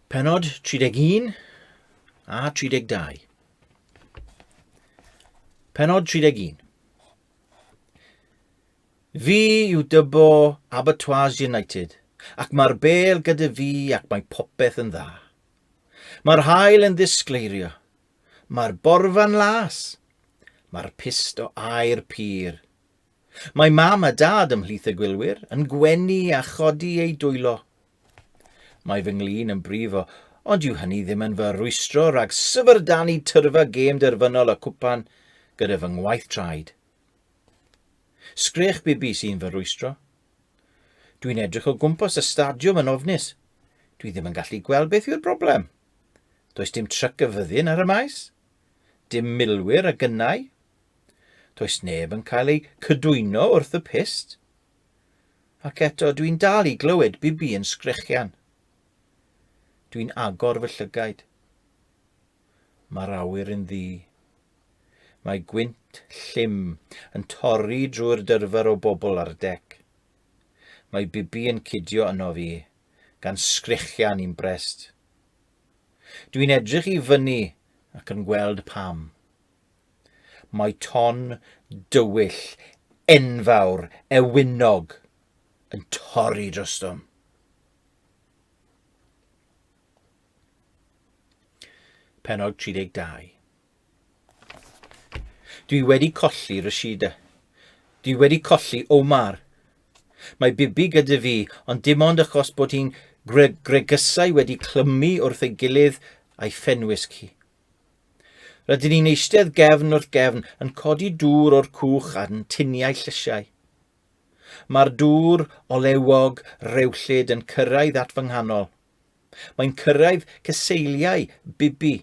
Penod 31 a 32. Penod 31. Fi yw dybo Abattoirs United, ac mae'r bel gyda fi ac mae popeth yn dda. Mae'r hael yn ddisgleirio, Mae'r borfa'n las. Mae'r pist o aer pur. Mae mam a dad ymhlith y gwylwyr yn gwenu a chodi eu dwylo. Mae fy nglin yn brifo, ond yw hynny ddim yn fy rwystro rhag syfrdanu tyrfa gêm derfynol y cwpan gyda fy ngwaith traed. Sgrech bibi sy'n fy rwystro. Dwi'n edrych o gwmpas y stadiwm yn ofnus. Dwi ddim yn gallu gweld beth yw'r broblem. Does dim tryc y fyddin ar y maes, dim milwyr a gynnau. Does neb yn cael eu cydwyno wrth y pist. Ac eto, dwi'n dal i glywed bibi yn sgrechian. Dwi'n agor fy llygaid. Mae'r awyr yn ddi. Mae gwynt llym yn torri drwy'r dyrfer o bobl ar y dec. Mae Bibi yn cidio yno fi, gan sgrechian i'n brest. Dwi'n edrych i fyny ac yn gweld pam. Mae ton dywyll enfawr ewynog yn torri drostom. Penod 32 Dwi wedi colli Rashida. Dwi wedi colli Omar. Mae Bibi gyda fi, ond dim ond achos bod hi'n gre gregysau wedi clymu wrth ei gilydd a'i phenwisg hi. Rydyn ni'n eistedd gefn wrth gefn yn codi dŵr o'r cwch a'n tuniau llysiau. Mae'r dŵr olewog rewllyd yn cyrraedd at fy nghanol. Mae'n cyrraedd cyseiliau Bibi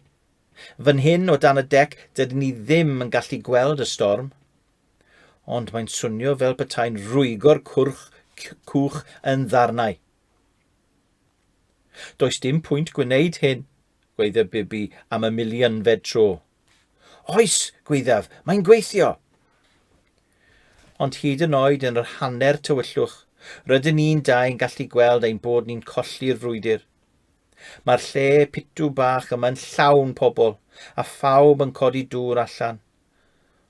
Fan hyn o dan y dec dydyn ni ddim yn gallu gweld y storm, ond mae'n swnio fel petai'n rwygo'r cwrch cwch yn ddarnau. Does dim pwynt gwneud hyn, gweiddodd Bibi am y milionfed tro. Oes, gwyddaf, mae'n gweithio! Ond hyd yn oed yn yr hanner tywyllwch, rydyn ni'n dau yn gallu gweld ein bod ni'n colli'r frwydr. Mae'r lle pitw bach yma'n llawn pobl, a phawb yn codi dŵr allan.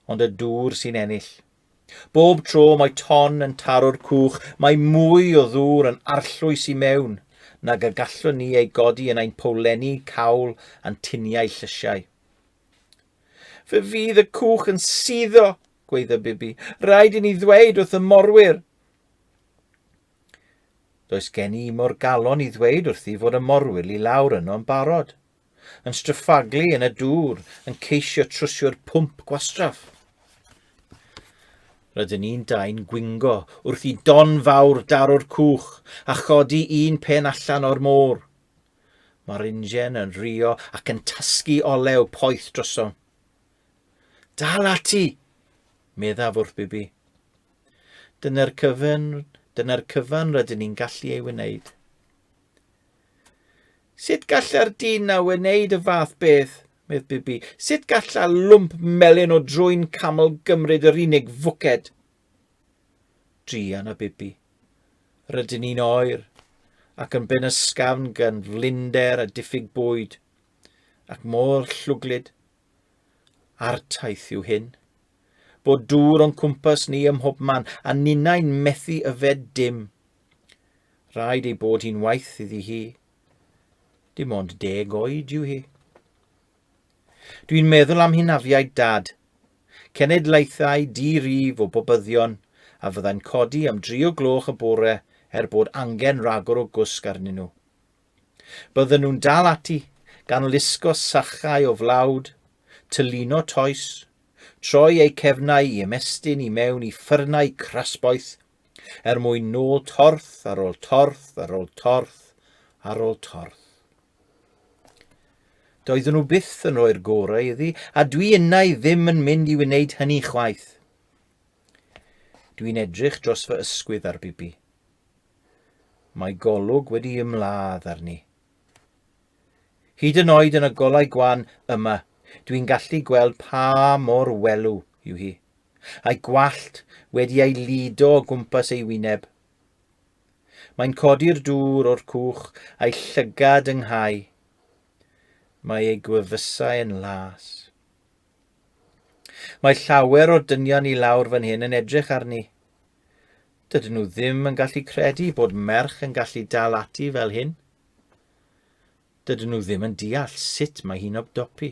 Ond y dŵr sy'n ennill. Bob tro mae ton yn taro'r cwch, mae mwy o ddŵr yn arllwys i mewn nag y gallwn ni ei godi yn ein powlenni cawl a'n tuniau llysiau. Fe fydd y cwch yn suddo, gweiddo Bibi. Rhaid i ni ddweud wrth y morwyr. Does gen i mor galon i ddweud wrthi fod y morwyl i lawr yno'n barod. Yn stryffaglu yn y dŵr, yn ceisio trwsio'r pwmp gwastraff. Rydyn ni'n dau'n gwingo wrth i don fawr daro'r cwch a chodi un pen allan o'r môr. Mae'r ingen yn rio ac yn tasgu olew poeth drosom. Dal ati, meddaf wrth Bibi. Dyna'r cyfan, dyna'r cyfan rydyn ni'n gallu ei wneud. Sut galla'r dyn na wneud y fath beth? medd Bibi. Sut galla lwmp melyn o drwy'n camel gymryd yr unig fwced? Drian a Bibi. Rydyn ni'n oer, ac yn ben ysgafn gan flinder a diffyg bwyd, ac mor llwglyd A'r taith yw hyn. Bod dŵr o'n cwmpas ni ym mhob man, a ninnau'n methu yfed dim. Rhaid ei bod hi'n waith iddi hi. Dim ond deg oed yw hi. Dwi'n meddwl am hynafiaid dad. Cenedlaethau di-rif o bobyddion a fyddai'n codi am dri o gloch y bore er bod angen ragor o gwsg arnyn nhw. Bydden nhw'n dal ati, gan lusgo sachau o flawd, tylino toes, troi eu cefnau i ymestyn i mewn i ffyrnau crasboeth, er mwyn nôl torth ar ôl torth ar ôl torth ar ôl torth. Doeddwn nhw byth yn rhoi'r gorau iddi, a dwi innau ddim yn mynd i wneud hynny chwaith. Dwi'n edrych dros fy ysgwydd ar Bibi. Mae golwg wedi ymladd arni. Hyd yn oed yn y golau gwan yma, dwi'n gallu gweld pa mor welw yw hi. A'i gwallt wedi ei lido o gwmpas ei wyneb. Mae'n codi'r dŵr o'r cwch a'i llygad ynghau. Mae ei gwefusau yn las. Mae llawer o dynion i lawr fan hyn yn edrych arni. Dydyn nhw ddim yn gallu credu bod merch yn gallu dal ati fel hyn. Dydyn nhw ddim yn deall sut mae hi'n obdopi.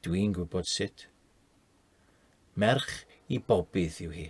Dwi'n gwybod sut. Merch i bobydd yw hi.